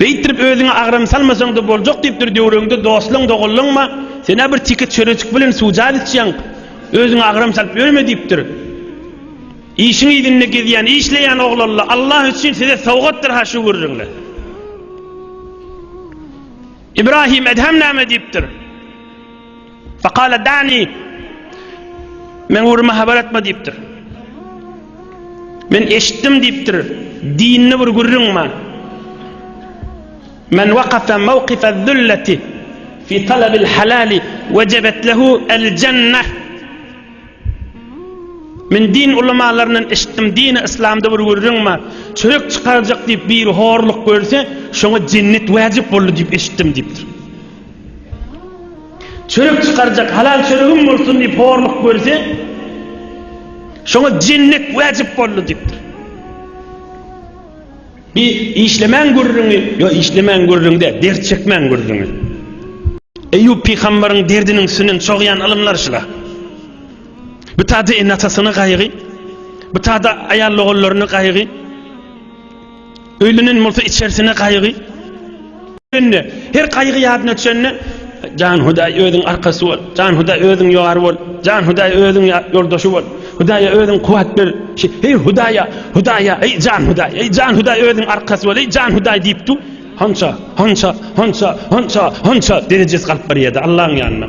Beýtdirip özüňe agram salmasaň-da boljak diýipdir döwregiňde dostlaň doganlaňma, sen-ä bir tiki çörejik bilen suwjaz içýäň, özüňe agram salyp ýörme diýipdir. Işiň yzynda gezýän, işleýän oglanla Allah üçin size sowgatdyr-ha şu gürrüňler. Ibrahim Edhem näme diýipdir? Fakala dani Men uruma habar etme diýipdir. Men eşitdim diýipdir. Dinli bir gürrüň bar. Men waqafa mawqifa zullati fi talabil halali wajabet lehu al jannah. Men din ulamalaryndan eşitdim, dini islamda bir gürrüň bar. Çörek çykarjak diýip bir horluk görse, şoňa jennet wajib boldy diýip eşitdim diýipdir. Çörek çykarjak halal çöregim bolsun diýip horluk görse, şoňa jennet wajyp boldy diýipdir. Bi işlemäň gürrüňi, ýo işlemäň gürrüň däl, dert çekmäň gürrüňi. Eýýup pygambaryň derdiniň üstünden çogýan ylymlar şula. Bu tada ene-atasyna gaýgy, bu tada aýal-ogullaryna gaýgy. Öýlenen bolsa içersine gaýgy. Öňde her gaýgy ýadyna düşende Jan Hudaý özüň arkasy bol. Jan Hudaý özüň ýar bol. Jan Hudaý özüň ýoldaşy bol. Hudaýa özüň kuwat ber. Ey Hudaýa, Hudaýa, ey Jan Hudaý, ey Jan Hudaý özüň arkasy bol, ey Jan Hudaý diýip dur. Hança, hança, hança, hança, hança derejesi galyp barýardy Allahyň ýanynda.